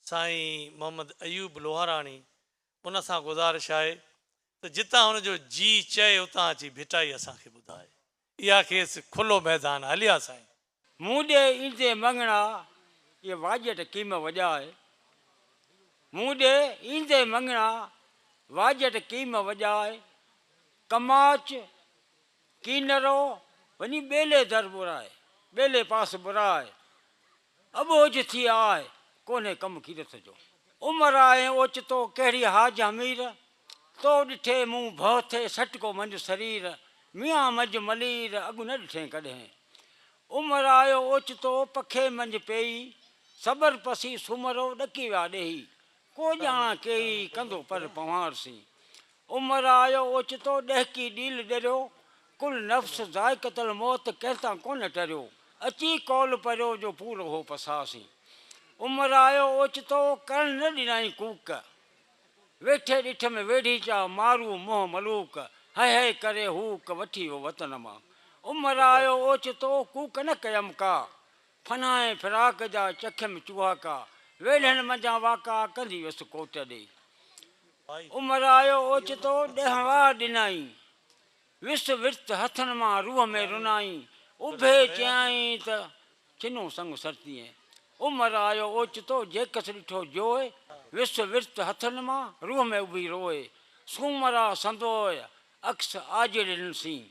سائين محمد ايوب لوهاراڻي ان سان گذارش آهي ته جتان هن جو جي چئي اتان اچي ڀٽائي اسان کي ٻڌائي اها کيس کلو ميدان هلي آ سائين. مون ڏي ايندين مڱڻا اي واڄٽ ڪيم وڄائي مون ڏي ايندين مڱڻا واڄٽ ڪيم وڄائي ڪماچ ڪينرو وڃي ٻيلي در ٻرائي ٻيلي پاس ٻرائي اٻوجھ ٿي آء ڪونھي ڪم ڪيرت جو. عمر آء ۽ اوچتو ڪهڙي حاج حمير. تو ڏٺي مون ڀؤ ٿئي سٽڪو منجھ سرير. ميان منجھ ملير اڳ نه ڏٺين ڪڏهين. عمر آء اوچتو پکين منجھ پيئي. سٻر پسي سومرو ڏڪي ويا ڏيهي. ڪو ڄاڻان ڪيئي ڪندو پر پنهوار سين. عمر آيو اوچتو ڏهڪي ڏيل ڏريو. ڪل نفس ذائقة الموت ڪنهن تان ڪونه ٽريو. اچي قول پريو جو پورو هو پساهه سين. عمر آيو اوچتو ڪرڻ نه ڏنائين ڪوڪ. ويٺي ڏٺ ۾ ويڙهي چا مارو منهن ملوڪ. هئي هئي ڪري هوڪ وٺي ويو وطن مان. عمر آيو اوچتو ڪوڪ نه ڪيم ڪا. فنا ۽ فراق جا چکيم چوهاڪا. ويلهن منجهان واڪا ڪندي ويس ڪوٽ ڏي. عمر آيو اوچتو ڏهه واه ڏنائين. ويس ورت هٿن مان روح ۾ رنائين. اڀي چيائين ته ڇنو سڱ سرتينء. عمر آيو اوچتو جيڪس ڏٺو جوء. ويس ورت هٿن مان روح ۾ اڀي روء. سومرا سندوء عڪس آجڙين سين.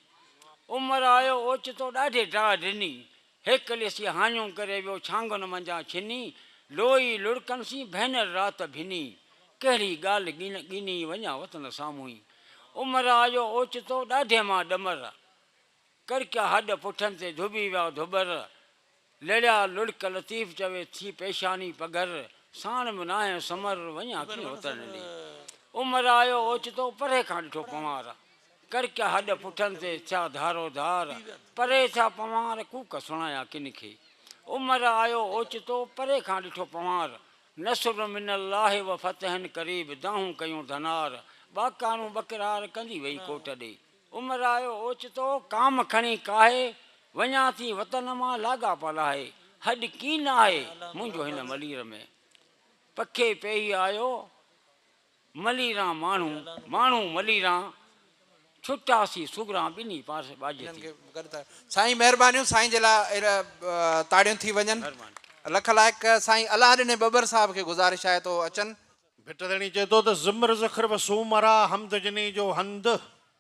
عمر آيو اوچتو ڏاڍي ڊاهه ڏني. هيڪ ليسي هاڃون ڪري ويو ڇانگن منجهان ڇني، لوئي لڙڪن سين ڀينر رات ڀني، ڪهڙي ڳالهه ڳڻ ڳني وڃان وطن سامهونئي، عمر آيو اوچتو ڏاڍي مان ڏمر، ڪرڪيا هڏ پٺن تي ڌوٻي ويا ڌوٻر، لڙيا لڙڪ لطيف چوي ٿي پيشاني پگهر، ساڻ به ناهي سمر وڃان ڪيئن وطن ڏي، عمر آيو اوچتو پري کان ڏٺو پنوار، ڪرڪ هڏ پٺن تي ٿيا ڌارو ڌار، پري ٿيا پنوار ڪوڪ سڻايا ڪن کي. عمر آيو اوچتو، پري کان ڏٺو پنوار، نصر من الله و فتح قريب دانهون ڪيون ڌنار، ٻاڪارون ٻڪرار ڪندي وئي ڪوٽ ڏي. عمر آيو اوچتو، ڪام کڻي ڪاهي، وڃان ٿي وطن مان لاڳاپا لاهي، هڏ ڪين آهي منهنجو هن ملير ۾. پکي پيهي آيو. مليران ماڻهو ماڻهو مليران، ڇٽا سي سگهران ٻنهي پاسي ٻاجهه ٿي. سائين مهربانيون سائين جي لا تاڙيون ٿي وڃن لک لائق سائين الله ڏني ٻٻر صاحب کي گذارش آهي ته اهو اچن. ڀٽ ڌڻي چئي ٿو ته زمر زخر وسومرا حمد جني جو هنڌ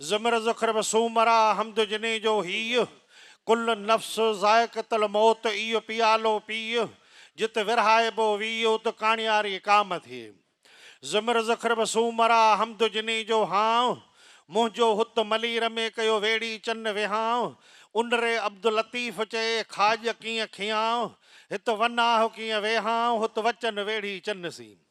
زمر ذخر به سومرا حمد جني جو هيء، ڪل نفس ذائقة الموت ايء پيالو پيء، جت ورهائبو ويء ات ڪاڻياري ڪام ٿئي. زمر ذخر به سومرا حمد جني جو هانء، منهنجو هت ملير ۾ ڪيو ويڙهي چن وهانء، ان ري عبداللطيف چئي کاڄ ڪيئن کيانء، هت وناهه ڪيئن ويهانء هت وچن ويڙهي چن سين.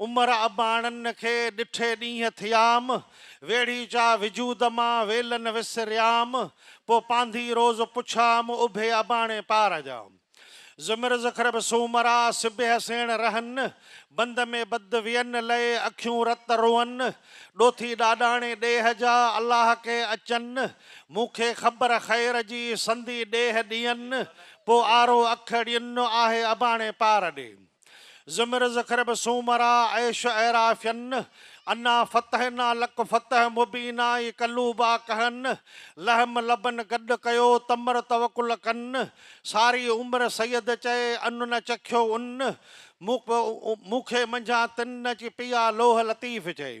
عمر اباڻن کي ڏٺي ڏينهن ٿيام، ويڙهي جا وجود مان ويلن وسريام، پوء پانڌي روز پڇام، اڀي اباڻي پار جا. زمر زخر به سومرا، سبيهه سيڻ رهن، بند ۾ بد وين لئي، اکيون رت روئن، ڏوٿي ڏاڏاڻي ڏيهه جا، الله ڪي اچن، مون کي خبر خير جي، سندي ڏيهه ڏين، پوء آرو اک ڙين، آهي اباڻي پار ڏي. زمر زخرب سومرا عيش عيرا فين انا فتحنا لک فتح مبينا اي قلوبا ڪهن لحم لبن گڏ ڪيو تمر توڪل ڪن ساري عمر سيد چئي ان نه چکيو ان مون کي منجهان تن نه چي پيا لوح لطيف چئي.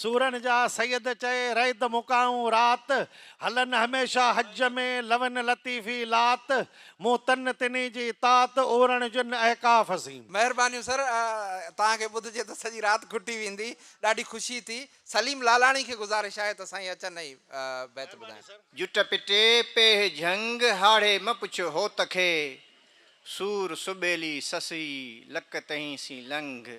سورن جا سيد چئي رئد مڪائون رات، هلن هميشه حج ۾ لون لطيفي لات، مون تن تني جي تات، اورڻ جن احقاف سين. مهربانيون سر توهان کي ٻڌجي ته سڄي رات کٽي ويندي ڏاڍي خوشي ٿي سليم لالاڻي کي گذارش آهي ته سائين اچن ۽ بيت ٻڌائن. جٽ پٽي پيهه جهنگ هاڙهي م پڇ هوت کي سور سٻيلي سسئي لڪ تهين سين لنگهه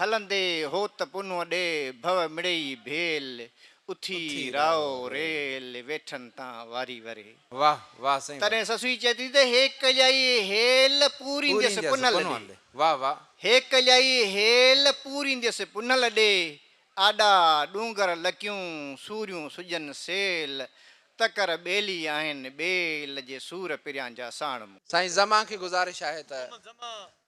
هلندي هوت پنهون ڏي ڀو مڙئي ڀيل. اٿي راء ريل ويٺن تان واري وري. واه واه سائين واه. تڏهن سسوئي چئي ٿي ته هيڪ ڄائي هيل پورينديس پنهل ڏي. واه واه. هيڪ ڄائي هيل پورينديس پنهل ڏي. آڏا ڏونگر لڪيون سوريون سجن سيل. تڪر ٻيلي آهن ٻيل جي سور پريان جا ساڻ مون. سائين زمان کي گذارش آهي ته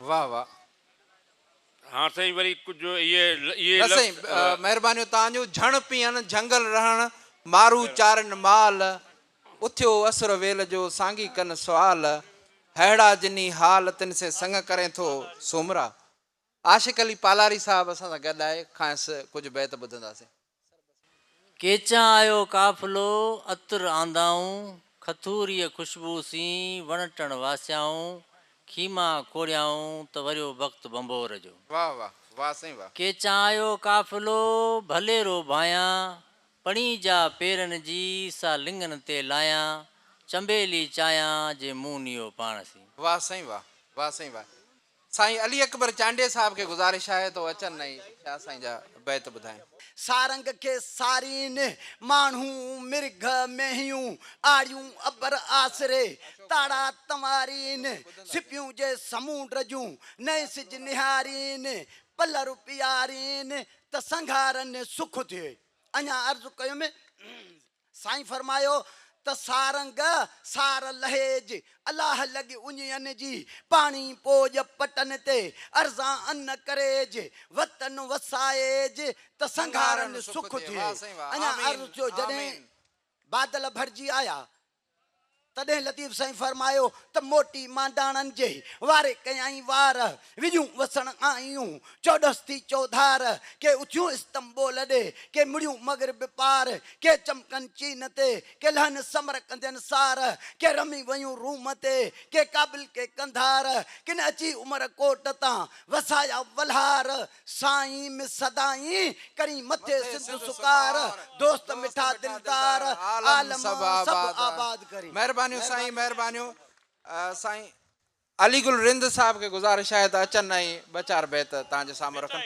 واھ واھ. ھان سائين وري ڪجھ اھي اھي نه سائين مھربانيون تان جون جھڻ پيھن جھنگل رھڻ مارو چارين مال اٿيو اسر ويل جو سانگي ڪن سوال ھئڙا جنھي حال تن سين سڱ ڪرين ٿو سومرا عاشق علي پالاري صاحب اسان سان گڏ آھي کانئس ڪجھ بيت ٻڌنداسين. ڪيچان آيو قافلو عطر آندائون، کٿوريء خوشبوء سين وڻ ٽڻ واسيائون، خيما کوڙيائون ته وريو بخت ڀنڀور جو. واھ واھ واھ سائين واھ. ڪيچان آيو قافلو ڀلي رو ڀايان، پڻي جا پيرن جي سا لڱن تي لايان، چنبيلي چايان جي مون نيو پاڻ سين. واھ سائين واھ واھ سائين واھ. سائين علي اڪبر چانڊيي صاحب کي گذارش آهي ته هو اچن ۽ شاهه سائين جا بيت ٻڌائين. سارنگ کي سارين، ماڻهو، مرگهه، مينهيون، آڙيون، ابر، آسري، تاڙا، تنوارين، سپيون جي سمونڊ جون، نئين سج نهارين، پلر پيارين، ته سنگهارن سک ٿئي. اڃا عرض ڪيم. سائين فرمايو ته سارنگ سار لهيج الاهه لڳ اڃين جي پاڻي پوڄ پٽن تي ارزا ان ڪريج وتن وسائيج ته سنگهارن سک ٿئي اڃان عرض ٿيو جڏهن بادل ڀرجي آيا تڏهن لطيف سائين فرمايو ته موٽي مانڊاڻن جي واري ڪيائين وار، وڄون وسڻ آيون چوڏس ٿي چوڌار، ڪي اٿيون استنبول ڏي، ڪي مڙيون مغرب پار، ڪي چمڪن چين تي، ڪي لهن سمرقندين سار، ڪي رمي ويون روم تي، ڪي ڪابل ڪي قنڌار، ڪن اچي عمرڪوٽ تان وسايا ولهار، سائين م سدائين ڪرين مٿي سنڌ سڪار دوست مٺا دلدار عالم سڀ آباد ڪرين. مهربانيون سائين مهربانيون سائين علي گل رند صاحب کي گذارش آهي ته اچن ۽ ٻه چار بيت توهان جي سامهون رکن.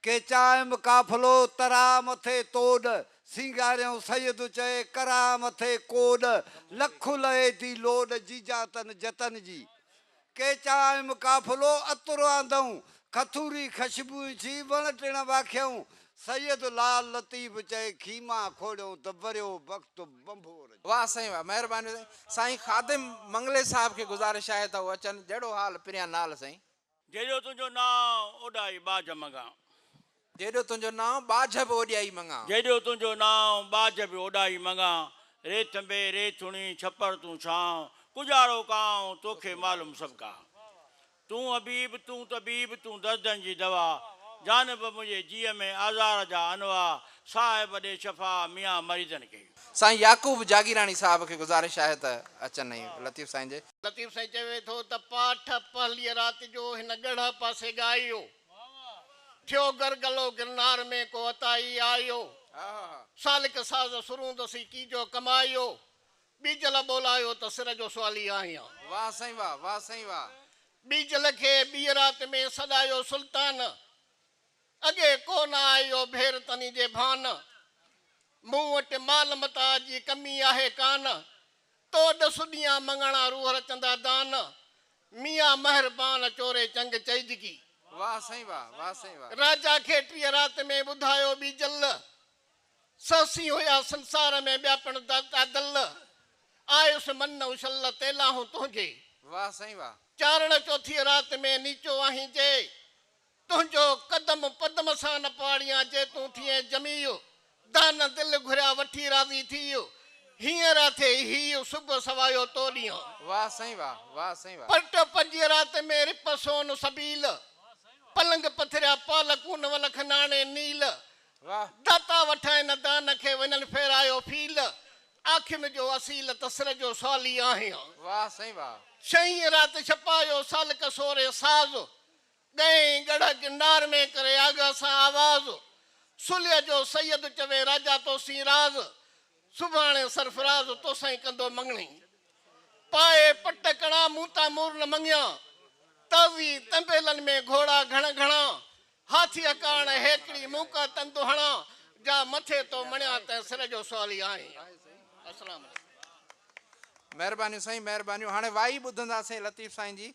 ڪيچائم قافلو ترا مٿي توڏ سينگاريون سيد چئي ڪرا مٿي ڪوڏ لک لئي ٿي لوڏ جيجا تن جتن جي ڪيچا ۽ قافلو عطر آندئون، کٿوري خشبوئين ڇي وڻ ٽڻ واکيئون، سيد لعل لطيف چئي خيما کوڙيئون ته وريو بخت ڀنڀور جو. واه سائين واه مهرباني سائين. سائين خادم منگلي صاحب کي گذارش آهي ته هو اچن جهڙو حال پريان نال سائين. جهڙو تنهنجو نانء اوڏائي ٻاجهه مڱان. جيڏو تنهنجو نانء ٻاجهه به اوڏيائي مڱان. جيڏو تنهنجو نانء ٻاجهه به اوڏائي مڱان. ري ٿنڀي ري ٿڻي ڇپر تون ڇانء، ڪڄاڙو ڪانء توکي معلوم سڀ ڪا. تون حبيب تون طبيب تون دردن جي دوا، جانب منهنجي جيء ۾ آزار جا انواع، صاحب ڏي شفا ميان مريضن کي. سائين يعقوب جاگيراڻي صاحب کي گذارش آهي ته اچن ۽ لطيف سائين جي. لطيف سائين چوي ٿو ته پاٺ پهليء رات جو هن ڳڙهه پاسي ڳايو. ٿيو گرگلو گرنار ۾ ڪو عطائي آيو. سالڪ ساز سرود سي ڪيجو ڪمايو. ٻيجل ٻولايو ته سر جو سوالي آهيان. واھ سائين واھ واھ سائين واھ. ٻيجل کي ٻيء رات ۾ سڏايو سلطان. اڳي ڪو نه آيو ڀير تني جي ڀان. مون وٽ مال متاع جي ڪمي آهي ڪان. تو ڏس ڏينهان مڱڻا روح رچندا دان ميان مهربان چوري چنگ چئجگي. واھ سائين واھ واھ سائين واھ. راجا کي ٽيهه رات ۾ ٻڌايو ٻي جل سهسين هيا سنسار ۾ ٻيا پڻ دادل آيس من نه اڇل تي لاهون تنهنجي. واھ سائين واھ. چارڻ چوٿيء رات ۾ نيچو آهين جي تنهنجو قدم پدم سان نه پاڙيان جي تون ٿئين جميع دانه دل گهريا وٺي راضي ٿي هينئر اٿي هي صبح سوايو تو ڏينهن. واھ سائين واھ واھ سائين واھ. پرٽ پنجي رات ۾ رپ سون سبيل پلنگ پٿريا پال ڪون ولک ناڻي نيل واھ. داتا وٺائين نه دانه کي وڃن ڦيرايو ڦيل آکين جو اصيل ته سر جو سوالي آهيان. واھ سائين واھ. ڇهين رات ڇپايو سالڪ سوري ساز ڳهي ڳڙهه گنڊار ۾، ڪري آغا سان آواز. سلهيء جو سيد چوي راجا تو سين راز، سڀاڻي سرفراز تو سائين ڪندو مڱڻي. پائي پٽ ڪڻا مون تان مور نه مڱيا، تازي تنبيلن ۾ گهوڙا گهڻ گهڻا. هاٿيء ڪاڻ هيڪڙي مون ڪا تند هڻا، جا مٿي تو مڻيا تنهن سر جو سوالي آهين. السلام عليڪم. مهربانيون سائين مهربانيون هاڻي وائي ٻڌندا سين لطيف سائين جي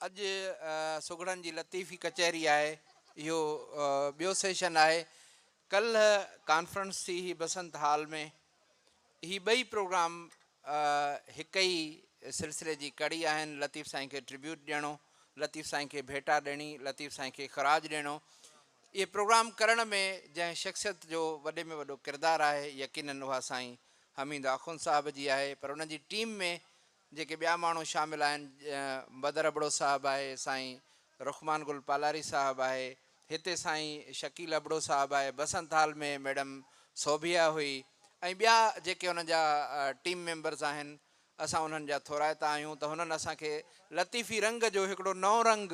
اڄ سگهڙن جي لطيفي ڪچهري آهي اهو ٻيو سيشن آهي ڪلهه ڪانفرنس ٿي هئي بسنت هال ۾ هي ٻئي پروگرام هڪ ئي سلسلي جي ڪڙي آهن لطيف سائين کي ٽريبيوٽ ڏيڻو لطيف سائين کي ڀيٽا ڏيڻي لطيف سائين کي خراج ڏيڻو اهي پروگرام ڪرڻ ۾ جنهن شخصيت جو وڏي ۾ وڏو ڪردار آهي يقينن اها سائين حميد آخوند صاحب جي آهي پر ان جي ٽيم ۾ جيڪي ٻيا ماڻهو شامل آهن بدر ابڙو صاحب آهي، سائين رخمان گل پالاري صاحب آهي، هتي سائين شڪيل ابڙو صاحب آهي، بسنت هال ۾ ميڊم سوڀيا هئي ۽ ٻيا جيڪي انهن جا ٽيم ميمبرز آهن اسان انهن جا ٿورائتا آهيون ته هنن اسان کي لطيفي رنگ جو هڪڙو نئون رنگ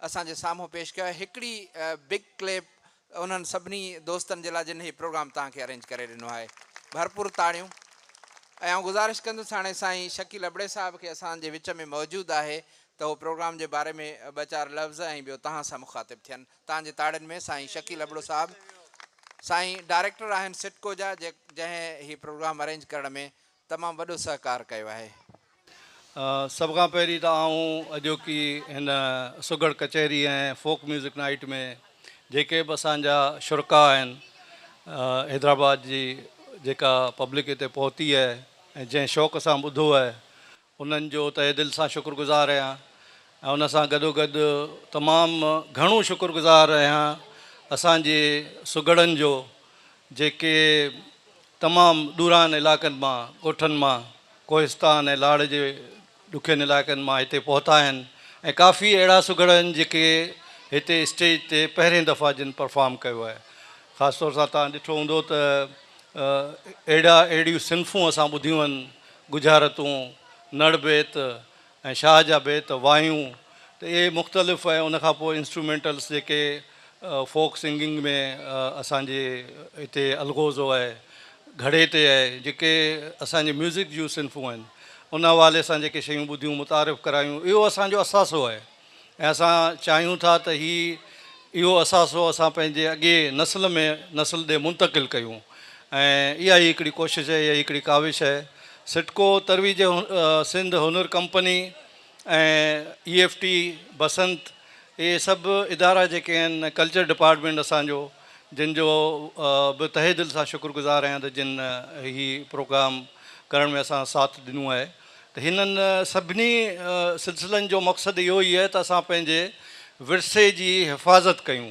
اسان جي سامهون پيش ڪيو آهي هڪڙي بگ ڪليپ انهن سڀني دوستن جي لاء جن هي پروگرام توهان کي ارينج ڪري ڏنو آهي ڀرپور تاڙيون ۽ آئون گذارش ڪندس هاڻي سائين شڪيل ابڙي صاحب کي اسان جي وچ ۾ موجود آهي ته هو پروگرام جي باري ۾ ٻه چار لفظ ۽ ٻيو توهان سان مخاطب ٿين توهان جي تاڙين ۾ سائين شڪيل ابڙو صاحب سائين ڊائريڪٽر آهن سٽڪو جا جنهن هي پروگرام ارينج ڪرڻ ۾ تمام وڏو سهڪار ڪيو آهي. سڀ کان پهرين ته آئون اڄوڪي هن سگهڙ ڪچهري ۽ فوڪ ميوزڪ نائيٽ ۾ جيڪي به اسان جا شرڪاء آهن حيدرآباد جي جيڪا پبلڪ هتي پهتي آهي ۽ جنهن شوق سان ٻڌو آهي انهن جو تهه دل سان شڪر گذار آهيان ۽ ان سان گڏوگڏ تمام گهڻو شڪر گذار آهيان اسان جي سگهڙن جو جيڪي تمام ڏورانهن علائقن مان ڳوٺن مان ڪوهستان ۽ لاڙ جي ڏکين علائقن مان هتي پهتا آهن ۽ ڪافي اهڙا سگهڙ آهن جيڪي هتي اسٽيج تي پهرين دفعا جن پرفارم ڪيو آهي خاص طور سان توهان ڏٺو هوندو ته اهڙا اهڙيون صنفون اسان ٻڌيون آهن ڳجهارتون، نڙ بيت ۽ شاهه جا بيت، وايون ته اهي مختلف ۽ ان کان پوء انسٽرومينٽلس جيڪي فوڪ سنگنگ ۾ اسان جي هتي الغوزو آهي، گهڙي تي آهي، جيڪي اسان جي ميوزڪ جون صنفون آهن، ان حوالي سان جيڪي شيون ٻڌيون، متعارف ڪرايون، اهو اسان جو اثاثو آهي. ۽ اسان چاهيون ٿا ته هي اهو اثاثو اسان پنهنجي اڳئي نسل ۾ نسل ڏي منتقل ڪيون ۽ اها ئي هڪڙي ڪوشش اهي هي هڪڙي ڪاوش اهي. سٽڪو ترويج سنڌ هنر company ۽ A F T Basant اهي سڀ ادارا جيڪي آهن ڪلچر ڊپارٽمينٽ اسان جو جن جو به تهه دل سان شڪر گذار آهيان ته جن هي پروگرام ڪرڻ ۾ اسان ساٿ ڏنو آهي. ته هنن سڀني سلسلن جو مقصد اهو ئي آهي ته اسان پنهنجي ورثي جي حفاظت ڪيون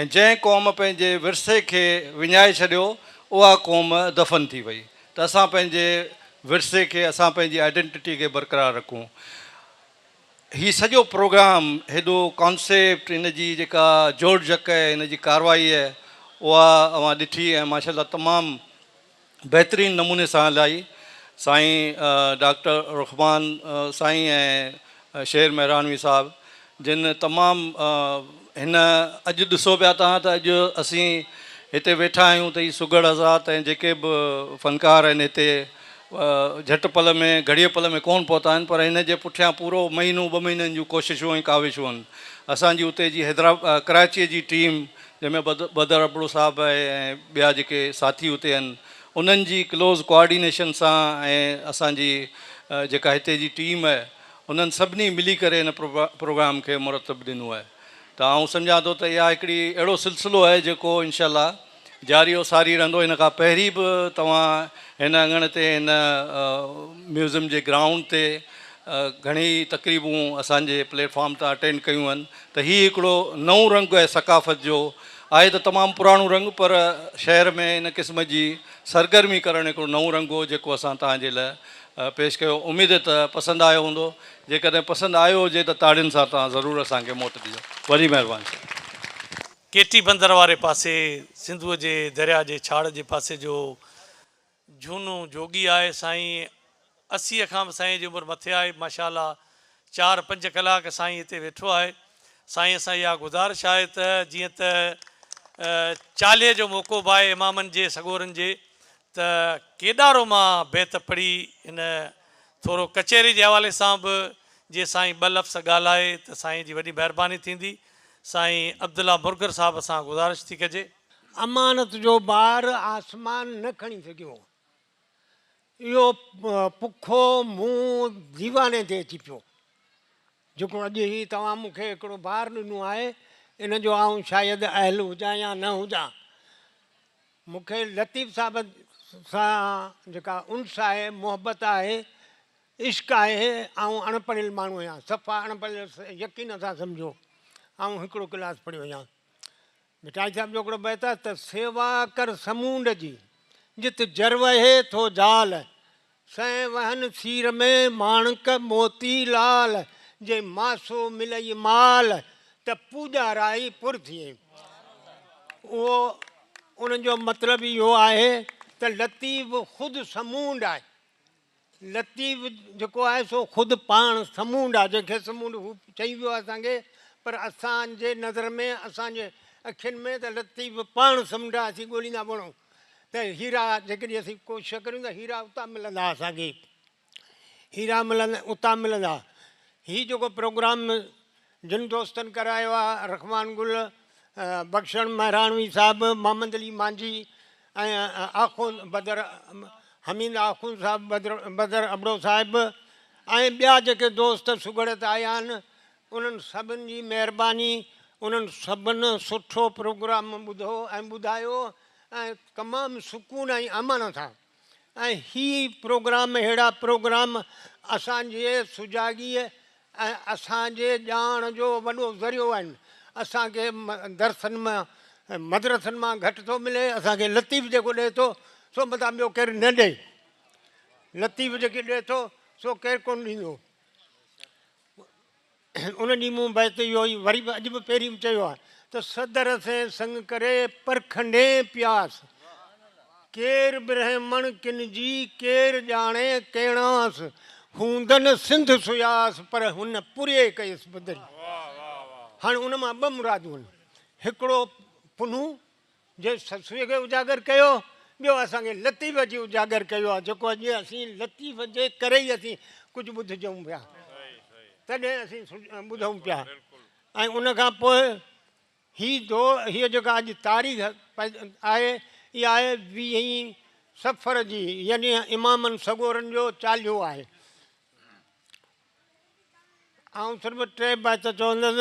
۽ جنهن قوم پنهنجي ورثي کي وڃائي ڇڏيو اها قوم دفن ٿي وئي ته اسان پنهنجي ورثي کي اسان پنهنجي آئيڊنٽٽي کي برقرار رکون هي سڄو پروگرام هيڏو ڪانسيپٽ هن جي جيڪا جوڙجڪ هن جي ڪارروائي اها اوهان ڏٺي ۽ ماشاءالله تمام بهترين نموني سان هلائي سائين ڊاڪٽر رخمان سائين ۽ شير مهراڻوي صاحب جن تمام هن اڄ ڏسو پيا تان ته اڄ اسين هتي ويٺا آهيون ته هي سگهڙ حضرات ۽ جيڪي به فنڪار آهن هتي جهٽ پل ۾ گهڙيء پل ۾ ڪون پهتا آهن پر هن جي پٺيان پورو مهينو ٻه مهينن جون ڪوششون ۽ ڪاوشون اسان جي اتي جي حيدرآ ڪراچيء جي ٽيم جنهن ۾ بدر ابڙو صاحب آهي ۽ ٻيا جيڪي ساٿي اتي آهن انهن جي ڪلوز ڪوآرڊينيشن سان ۽ اسان جي جيڪا هتي جي ٽيم آهي انهن سڀني ملي ڪري ان پروگرام کي مرتب ڏنو آهي ته آئون سمجهان ٿو ته اها هڪڙي اهڙو سلسلو آهي جيڪو انشاء الله جاري و ساري رهندو ان کان پهرين به توهان هن اڱڻ تي هن ميوزم جي گرائونڊ تي گهڻي ئي تقريبون اسان جي پليٽ فارم تان اٽينڊ ڪيون آهن ته هي هڪڙو نئون رنگ آهي ثقافت جو، آهي ته تمام پراڻو رنگ پر شهر ۾ ان قسم جي سرگرمي ڪرڻ هڪڙو نئون رنگ هو جيڪو اسان توهان جي لاء پيش ڪيو، اميد ته پسند آيو هوندو، جيڪڏهن پسند آيو هجي ته تاڙين سان توهان ضرور اسان کي موٽ ڏجو. وڏي مهرباني سائين. ڪيٽي بندر واري پاسي سنڌوء جي درياهه جي ڇاڙهه جي پاسي جو جھونو جوڳي آھي سائين اسي کان به سائين جي عمر مٿي آھي ماشاءالله چار پنج ڪلاڪ سائين ھتي ويٺو آھي سائين سان اھا گذارش آھي ته جيئن ته چالھي جو موقعو به آھي امامن جي سڳورن جي ته ڪيڏارو مان بيت پڙھي ھن ٿورو ڪچھري جي حوالي سان به جي سائين ٻه لفظ ڳالھائي ته سائين جي وڏي مھرباني ٿيندي سائين عبدالله مرگر صاحب سان گذارش ٿي ڪجي. امانت جو بار آسمان نه کڻي سگهيو هو. اهو پکو منهن ديواني تي اچي پيو، جيڪو اڄ هي توهان مون کي هڪڙو بار ڏنو آهي، ان جو آئون شايد اهل هجان يا نه هجان. مون کي لطيف صاحب سان جيڪا انس آهي، محبت آهي، عشق آهي، آئون اڻ پڙهيل ماڻهو آهيان، صفا اڻ پڙهيل يقين سان سمجهو، آئون هڪڙو ڪلاس پڙهيو آهيان. ڀٽائي صاحب جو هڪڙو بيت آهي ته سيوا ڪر سمونڊ جي، جت جر وهي ٿو زال، سئين وهن سير ۾ ماڻڪ موتي لال، جي ماسو ملئي مال، ته پوڄا رائي پر ٿئي. اهو ان جو مطلب اهو آهي ته لطيف خود سمونڊ آهي. لطيف جيڪو آهي سو خود پاڻ سمونڊ آهي، جنهن کي سمونڊ هو چئي ويو آهي اسان کي، پر اسان جي نظر ۾، اسان جي اکين ۾ ته لطيف پاڻ سمنڊ آهي، اسين ڳوليندا وڻو ته هيرا، جيڪڏهن اسين ڪوشش ڪريون ته هيرا اتان ملندا اسان کي، هيرا ملندا، اتان ملندا. هي جيڪو پروگرام جن دوستن ڪرايو آ، رخمان گل، بخشڻ مهراڻوي صاحب، محمد علي مانجهي ۽ آخوند بدر حميد آخوند صاحب، بدر ابڙو صاحب ۽ ٻيا جيڪي دوست سگهڙت آيا آهن، انهن سڀن جي مهرباني، انهن سڀن سٺو پروگرام ٻڌو ۽ ٻڌايو ۽ تمام سڪون ۽ امن سان. ۽ هي پروگرام اهڙا پروگرام اسان جي سجاڳيء ۽ اسان جي ڄاڻ جو وڏو ذريعو آهن. اسان کي درسن مان مدرسن مان گهٽ ٿو ملي. اسان کي لطيف جيڪو ڏئي ٿو سو متان ٻيو ڪير نه ڏئي. لطيف جيڪي ڏئي ٿو سو ڪير ڪونه ڏيندو. ان ڏينهن مون بيت اهو ئي وري به اڄ به پهرين چيو آهي ته صدر سين سڱ ڪري پرکنڊين پياس ڪير برهمڻ ڪن جي ڪير ڄاڻي ڪيڻاس هوندن سنڌ سياس پر هن پوري ڪيس بدري هاڻ ان مان ٻه مرادون هڪڙو پنهون جي سسويء کي اجاگر ڪيو، ٻيو اسان کي لطيف جي اجاگر ڪيو آهي، جيڪو اڄ اسين لطيف جي ڪري ئي اسين ڪجهه ٻڌجون پيا، تڏهن اسين ٻڌون پيا ۽ ان کان پوء هي دور، هيء جيڪا اڄ تاريخ آهي، اها آهي ويهين صفر جي، يعني امامن سڳورن جو چاليهو آهي. آئون صرف ٽي بيت چوندس.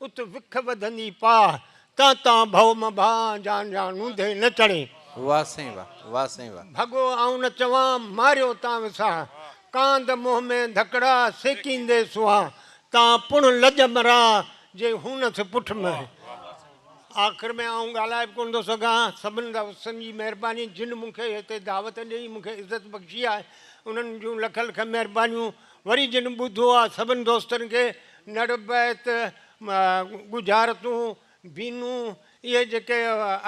ات وک وڌندي پاھ، تان تان ڀؤ م ڀان، جان جان نونڌي نه چڙھين. واھ سائين واھ، واھ سائين واھ. ڀڳو آئون نه چوان، ماريو تان وسان، ڪاند منهن ۾ ڌڪڙا، سيڪيندي سوان، تان پڻ لڄ مران، جي هونس پٺ م. آخر ۾ آئون ڳالھائي به ڪونه ٿو سگھان، سڀن دوستن جي مھرباني جن مون کي هتي دعوت ڏئي مون کي عزت بخشي آهي، انهن جون لک لک مھربانيون. وري جن ٻڌو آ سڀن دوستن کي نڙ بيت، ڳجهارتون، بينون، اهي جيڪي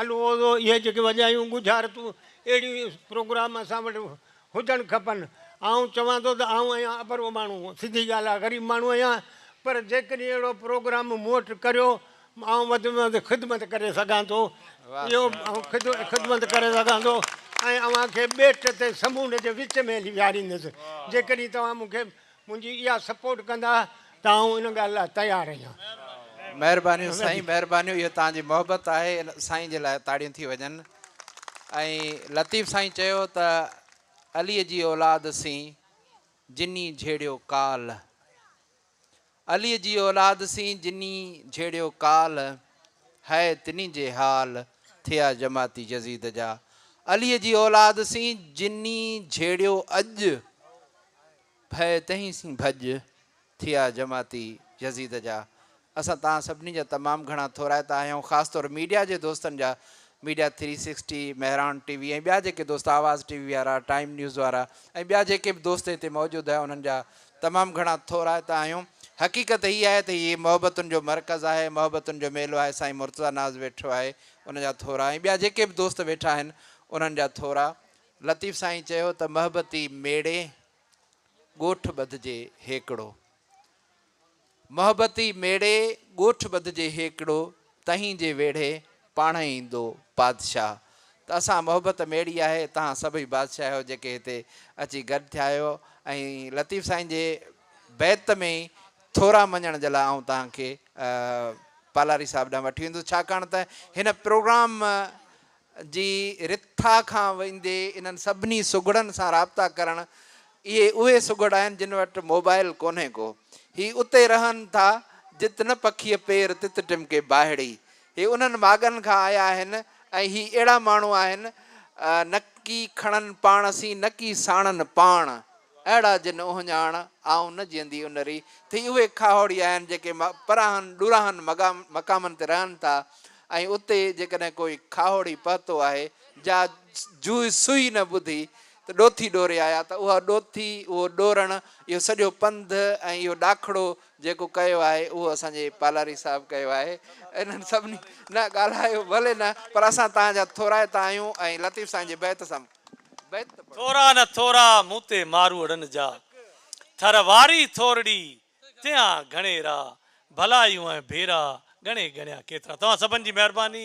الغوز هو اهي جيڪي وڄايون ڳجهارتون اهڙي پروگرام اسان وٽ هجڻ کپن. آئون چوان ٿو ته آئون آهيان اڀرو ماڻهو سڌي ڳالهه آ غريب ماڻهو آهيان پر جيڪڏهن اهڙو پروگرام مون وٽ ڪريو آئون وڌ ۾ وڌ خدمت ڪري سگهان ٿو اهو خدمت ڪري سگهان ٿو ۽ اوهان کي ٻيٽ تي سمونڊ جي وچ ۾ هلي ويهاريندس جيڪڏهن توهان مون کي منهنجي اها سپورٽ ڪندا ته آئون ان ڳالهه لاء تيار آهيان. مهربانيون سائين مهربانيون اهو توهان جي محبت آهي سائين جي لاء تاڙيون ٿي وڄن ۽ لطيف سائين چيو ته علي جي اولاد سين جني جهيڙيو ڪال. عليء جي اولاد سين جني جھيڙيو ڪال، ھئ تني جي حال، ٿيا جماعتي يزيد جا. عليء جي اولاد سين جني جھيڙيو اڄ، ڀئ تنھن سين ڀڄ، ٿيا جماعتي يزيد جا. اسان تان سڀني جا تمام گھڻا ٿورائتا آھيون، خاص طور ميڊيا جي دوستن جا، media three sixty, Mehran T V ۽ ٻيا جيڪي دوست آواز ٽي وي وارا، ٽائيم نيوز وارا ۽ ٻيا جيڪي به دوست ھتي موجود ھيا انھن جا تمام گهڻا ٿورائتا آهيون. حقيقت هي آهي ته هي محبتن جو مرڪز آهي، محبتن جو ميلو آهي، سائين مرتضيٰ ناز ويٺو آهي ان جا ٿورا ۽ ٻيا جيڪي به دوست ويٺا آهن انهن جا ٿورا. لطيف سائين چيو ته محبتي ميڙي ڳوٺ ٻڌجي هيڪڙو. محبتي ميڙي ڳوٺ ٻڌجي هيڪڙو تهين جي ويڙهي پاڻهي ايندو بادشاهه ته اسان محبت ميڙي آهي تهان سڀئي بادشاهه آهيو جيڪي هتي اچي گڏ ٿيا آهيو ۽ لطيف سائين جي بيت ۾ ئي ٿورا مڃڻ جي لاء آئون تهان کي پالاري صاحب ڏانهن وٺي ويندس ڇاڪاڻ ته هن پروگرام جي رٿا کان ويندي انهن سڀني سگهڙن سان رابطا ڪرڻ، اهي اهي سگهڙ آهن جن وٽ موبائل ڪونهي ڪو. هي اتي رهن ٿا جت نه پکيء پير تت ٽمڪي باهڙي. هي انهن ماڳن کان آيا آهن ۽ هي اهڙا ماڻهو آهن، نڪي کڻن پاڻ سين نڪي ساڻن پاڻ. اهڙا جن اهڃاڻ، آئون نه جيئندي انري ٿي اهي کاهوڙي آهن جيڪي پراهن ڏوراهن مقامن تي رهن ٿا ۽ اتي جيڪڏهن ڪوئي کاهوڙي پهتو آهي جا جوئي سوئي نه ٻڌي ته ڏوٿي ڏوري آيا ته اها ڏوٿي اهو ڏورڻ اهو سڄو پنڌ ۽ اهو ڏاکڙو جيڪو ڪيو آهي اهو اسان جي پالاري صاحب ڪيو آهي انهن سڀني نه ڳالهايو ڀلي نه پر اسان تهان جا ٿورائتا آهيون ۽ لطيف سائين جي بيت سان ٿورا نه ٿورا مون تي ماروئڙن جا ٿر واري ٿورڙي تيا گهڻي را ڀلايون ۽ ڀيرا ڳڻي ڳڻيا ڪيترا توهان سڀن جي مهرباني.